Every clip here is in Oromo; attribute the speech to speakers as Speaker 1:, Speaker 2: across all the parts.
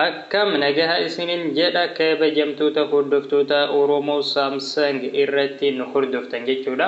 Speaker 1: Akkam nagaha isinin jedha kabajamtoota hordoftoota Oromo Samsung irratti nu hordoftan jechuudha.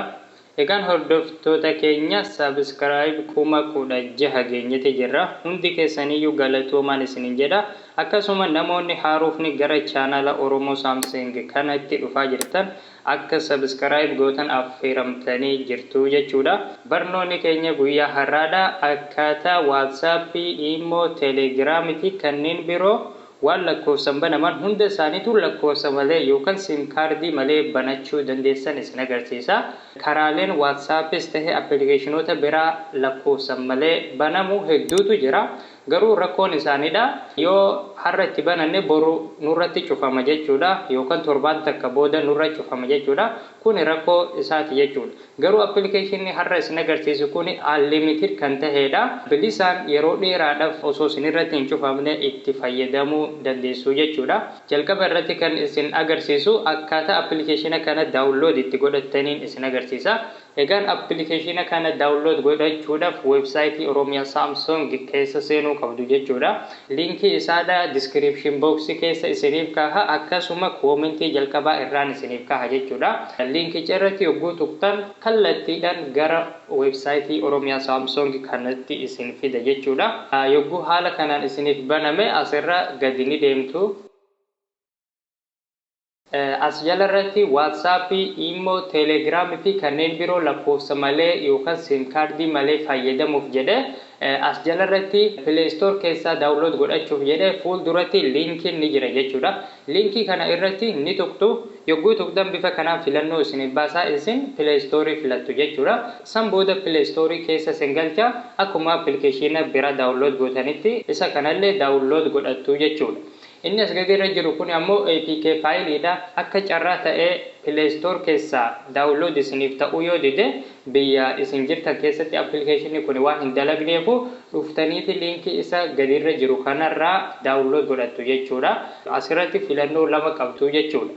Speaker 1: Egaan hordoftoota keenya subscribe kuma kudha jaha geenyeti jirra. Hundi keessaniyyuu galatoomaan isinin jedha. Akkasuma namoonni haarofni gara channel Oromo Samsung kanatti dhufaa jirtan Akka subscribe gootan affeeramtanii jirtu jechuudha. Barnoonni keenya guyyaa har'aadha. Akkaataa WhatsApp, Imo, Telegram fi kanneen biroo waan lakkoofsan banaman hunda isaaniitu lakkoofsa malee yookan sim kaardii malee banachuu dandeessan isin agarsiisa. Karaaleen WhatsAppis tahe appilikeeshinoota biraa lakkoofsan malee banamu hedduutu jira. Garuu rakkoon isaanidha. Yoo har'a itti bananne boru nurratti cufama jechuudha yookan torbaan takka booda nurra cufama jechuudha. Kuni rakkoo isaati jechuudha. Garuu application har'a isin agarsiisu kuni unlimited kan taheedha. Bilisaan yeroo dheeraadhaf osoo isinirratti hin cufamne itti fayyadamuu dandeessu jechuudha. Jalqaba irratti kan isin agarsiisu akkaataa application kana download itti godhattaniin isin agarsiisa. Egaan appilikeeshiina kana download godhachuudhaf website Oromia Samsung keessa seenuu qabdu jechuudha. Linkii isaadha description box keessa isiniif kaaha akkasuma comment jalqabaa irraan isiniif kaaha jechuudha. Linkicha irratti yogguu tuqxan kallattiidhan gara website Oromia Samsung kanatti isin fida jechuudha. Yogguu haala kanaan isiniif baname asirra gadi ni deemtu. As jala irratti WhatsApp, Imo, Telegram fi kanneen biroo lakkoofsa malee yookan sim card malee fayyadamuuf jedhe as jala irratti play store keessaa download godhachuuf jedhe fuul duratti linkin ni jira jechuudha. Linkii kana irratti ni tuqxu yogguu tuqxan bifa kanaan filannoo isiniif baasa isin play store filattu jechuudha. San booda play store keessa isin galcha akkuma application bira download gootanitti isa kanallee download godhattu jechuudha. Inni as gadi irra jiru kuni ammoo apk file dha. Akka carraa ta'ee play store keessaa download isiniif ta'uu yoo dide biyya isin jirtan keessatti application kuni waan hin dalagneefu dhuftaniiti link isa gadi irra jiru kanarraa download godhattu jechuudha. Asirratti filannoo lama qabdu jechuudha.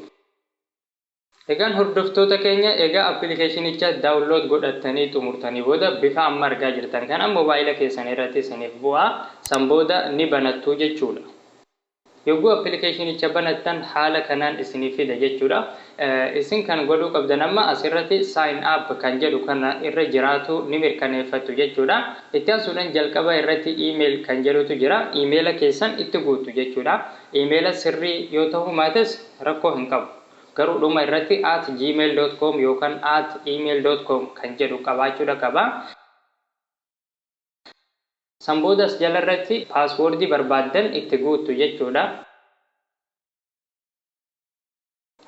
Speaker 1: Egaan hordoftoota keenya egaa appilikeeshinicha download godhattanii xumurtanii booda bifa amma argaa jirtan kana mobaayila keessan irratti isiniif bu'a. San booda ni banattu jechuudha. Yogguu appilikeeshinicha banattan haala kanaan isiniif fida jechuudha. Isin kan godhuu qabdan amma asirratti sign up kan jedhu kana irra jiraatuu ni mirkaneeffattu jechuudha. Itti aansuudhan jalqaba irratti email kan jedhutu jira. Emaila keessan itti guuttu jechuudha. Emaila sirrii yoo tahuu maates rakkoo hin qabu. Garuu dhuma irratti at gmail dot com yookan at email dot com kan jedhu qabaachuudha qaba. San booda as jala irratti password barbaaddan itti guuttu jechuudha.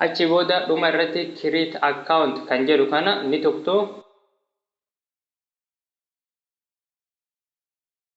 Speaker 1: Achii booda dhuma irratti create account kan jedhu kana ni tuqxu.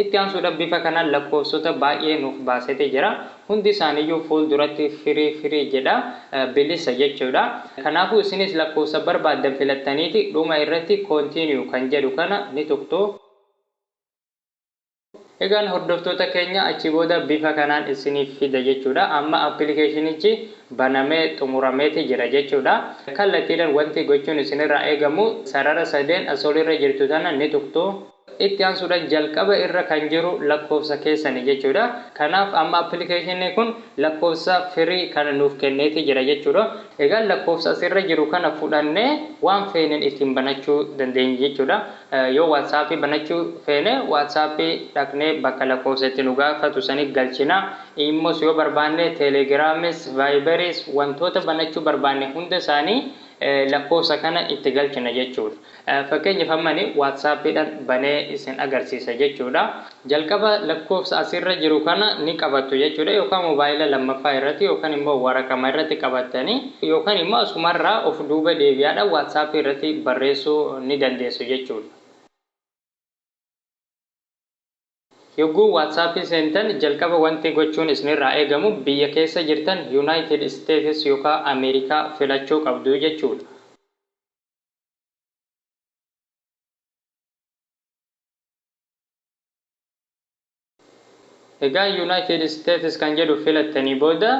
Speaker 1: Itti aansuudhan bifa kanaan lakkoofsota baay'ee nuuf baaseti jira. Hundi isaaniyyuu fuulduratti firii firii jedha. Bilisa jechuudha. Kanaafuu isinis lakkoofsa barbaaddan filattaniiti dhuma irratti continue kan jedhu kana ni tuqxu. Egaan hordoftoota keenya achi booda bifa kanaan isiniif fida jechuudha. Amma appilikeeshinichi banamee xumurameeti jira jechuudha. Kallattiidhan wanti gochuun isinirraa eegamu sarara sadeen as olirra jirtu tana ni tuqxu. itti aansuudhan jalqaba irra kan jiru lakkoofsa keessani jechuudha. Kanaaf amma application kun lakkoofsa free kana nuuf kenneeti jira jechuudha. Egaa lakkoofsa as irra jiru kana fudhannee waan feeneen ittiin banachuu dandeenya jechuudha. Yoo whatsapp banachuu feene whatsapp dhaqnee bakka lakkoofsa itti nu gaafatu sani galchina. Immos yoo barbaanne telegramis, viberis wantoota banachuu barbaanne hunda isaanii lakkoofsa kana itti galchina jechuudha. Fakkeenyaaf amma ani WhatsApp dhan banee isin agarsiisa jechuudha. Jalqaba lakkoofsa as irra jiru kana ni qabattu jechuudha yookaan mobaayila lammaffaa irratti yookaan immoo waraqama irratti qabattanii yookaan immoo asuma irraa of duuba deebi'aa dhaan WhatsApp irratti barreessuu ni dandeessu jechuudha. Yogguu WhatsApp seentan jalqaba wanti gochuun isin irraa eegamu biyya keessa jirtan United States yookaan America filachuu qabdu jechuudha. Egaa United States kan jedhu filattanii booda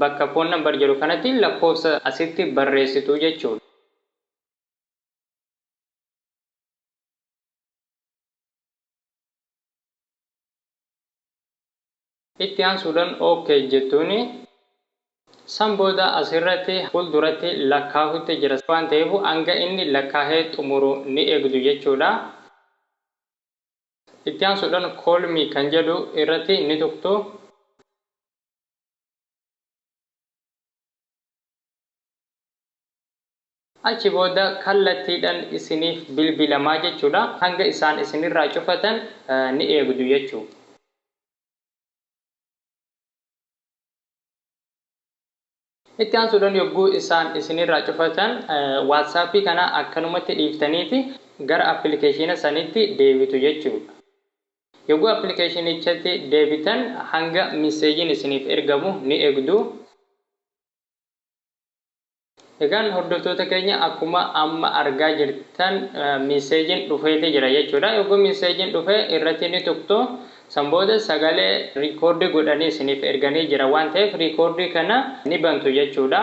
Speaker 1: bakka phone number jedhu kanatti lakkoofsa asitti barreessitu jechuudha. Itti aansuudhan OK jettuuni. San booda as irratti fuulduratti lakkaahutti jira waan ta'eef hanga inni lakkaahee xumuru ni eegdu jechuudha. Itti aansuudhan Call me kan jedhu irratti ni tuqtu. Achi booda kallattiidhan isiniif bilbilamaa jechuudha. Hanga isaan isinirraa cufatan ni eegdu jechuudha. Itti aansuudhan yogguu isaan isinirraa cufatan WhatsApp kana akkanumatti dhiiftaniiti gara appilikeeshiina sanitti deebitu jechuudha. Yogguu appilikeeshiinichatti deebitan hanga misseejiin isiniif ergamu ni eegdu. Egaan hordoftoota keenya akkuma amma argaa jirtan misseejin dhufeefi jira jechuudha. Yogguu misseejin dhufe irratti ni tuqxu. San booda sagalee riikoordii godhanii isiniif erganii jira waan ta'eef riikoordii kana ni bantu jechuudha.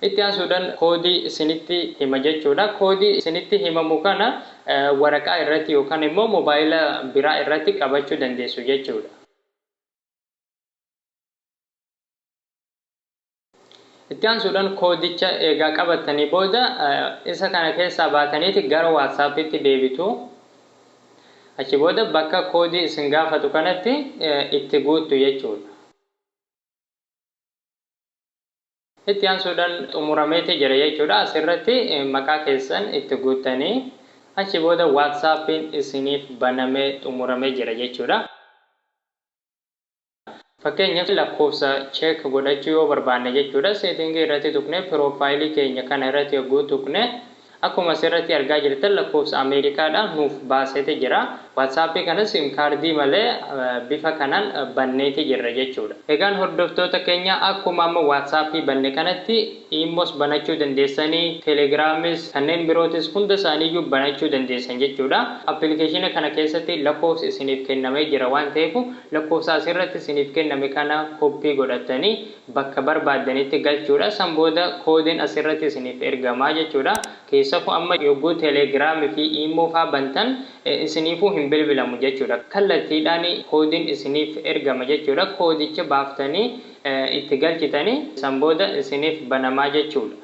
Speaker 1: Itti aansuudhan koodii isinitti hima jechuudha. Koodii isinitti himamu kana waraqaa irratti yookan immoo mobaayila biraa irratti qabachuu dandeessu jechuudha. Itti aansuudhan koodicha eegaa qabattanii booda isa kana keessaa baataniiti gara WhatsApptti deebitu. Achi booda bakka koodii isin gaafatu kanatti itti guuttu jechuudha. Itti aansuudhan xumurameeti jira jechuudha. Asirratti maqaa keessan itti guuttanii achi booda WhatsApp'n isiniif banamee xumuramee jira jechuudha. Fakkeenyaaf lakkoofsa check godhachuu yoo barbaanne jechuudha setting irratti tuqnee profile keenya kana irratti yogguu tuqne akkuma asirratti argaa jirtan lakkoofsa America dha nuuf baaseti jira. WhatsApp kana sim card malee bifa kanaan banneeti jirra jechuudha. Egaan hordoftoota keenya akkuma amma WhatsApp banne kanatti Immos banachuu dandeessani, Telegramis, kanneen birootis hunda isaanii iyyuu banachuu dandeessan jechuudha. Application kana keessatti lakkoofsi isiniif kennamee jira waan ta'eefu Lakkoofsa asirratti isiniif kenname kana koppii godhattanii bakka barbaaddanitti galchuudha. San booda koodiin asirratti isiniif ergama jechuudha. Keessafuu amma yogguu Telegram fi Imo faa bantan isiniifuu hin bilbilamu jechuudha. Kallattiidhaan koodiin isiniif ergama jechuudha. Koodicha baaftanii itti galchitanii san booda isiniif banamaa jechuudha.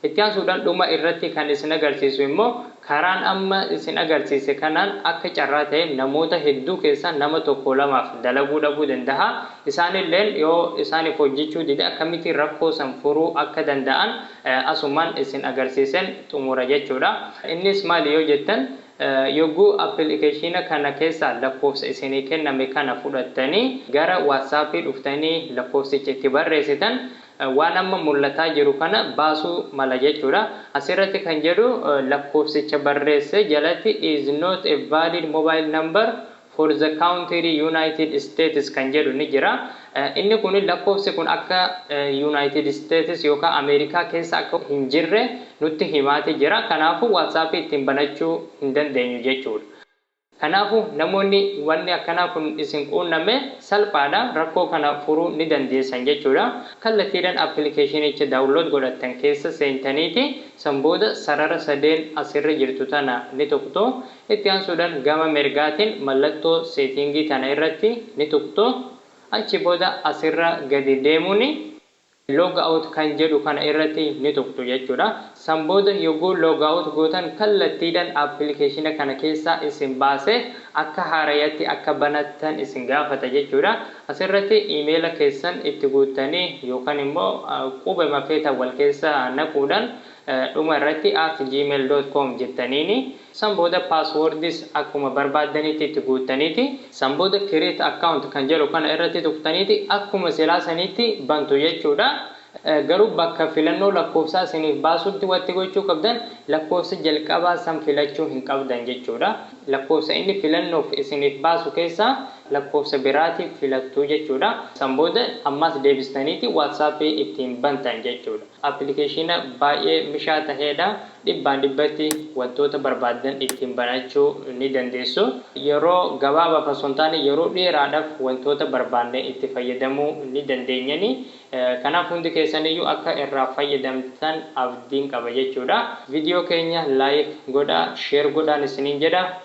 Speaker 1: Itti aansuudhaan dhuma irratti kan isin agarsiisu immoo karaan amma isin agarsiise kanaan akka carraa ta'ee namoota hedduu keessaa nama tokkoo lamaaf dalaguu dhabuu danda'a. Isaan illeen yoo isaaniif hojjechuu dide akkamitti rakkoo san furuu akka danda'an asumaan isin agarsiiseen xumura jechuudha. Innis maali yoo jettan yogguu appilikeeshiina kana keessaa lakkoofsa isinii kenname kana fudhattanii gara WhatsApp dhuftanii lakkoofsicha itti barreessitan waan amma mul'ataa jiru kana baasuu mala jechuudha. Asirratti kan jedhu lakkoofsicha barreesse jalatti is not a valid mobile number for the country United States kan jedhu ni jira. Inni kun lakkoofsi kun akka United States yookaan Ameerikaa keessa akka hin jirre nutti himaati jira. Kanaafuu WhatsApp ittiin banachuu hin dandeenyu jechuudha. Kanaafu, namoonni wanni akkanaa kun isin quunname, salphaadha, rakkoo kana furuu ni dandeessan jechuudha. Kallattiidhan appilikeeshinicha download godhattan keessa seentaniiti, san booda sarara sadeen as irra jirtu tana ni tuqxu. Itti aansuudhan gama mirgaatin mallattoo seetiingii tana irratti ni tuqxu. Achi booda as irra gadi deemuuni. log out kan jedhu kana irratti ni tuqxu jechuudha. San booda yogguu log out gootan kallattiidhan appilikeeshina kana keessaa isin baasee akka haarayatti akka banattan isin gaafata jechuudha. Asirratti imeela keessan itti guuttanii yookan immoo qubema feetan wal keessa naquudhan Dhuma irratti at gmail dot com jettaniini san booda passwords akkuma barbaaddanitti itti guuttaniiti san booda create account kan jedhu kana irratti tuqxaniiti akkuma silaa saniitti bantu jechuudha garuu bakka filannoo lakkoofsaa isiniif baasutti watti gochuu qabdan lakkoofsa jalqabaa san filachuu hin qabdan jechuudha lakkoofsa inni filannoof isiniif baasu keessaa lakkoofsa biraati filattu jechuudha san booda ammaas deebistaniiti whatsapp ittiin bantan jechuudha. Appilikeeshiina baay'ee mishaa taheedha. Dhibbaan dhibbatti wantoota barbaaddan ittiin banachuu ni dandeessu. Yeroo gabaabaaf osoo hin taane yeroo dheeraadhaf wantoota barbaanne itti fayyadamuu ni dandeenyani. Kanaaf hundi keessaniyyuu akka irraa fayyadamtan abdiin qaba jechuudha. Video keenya like godhaa, share godhaan isiniin jedha.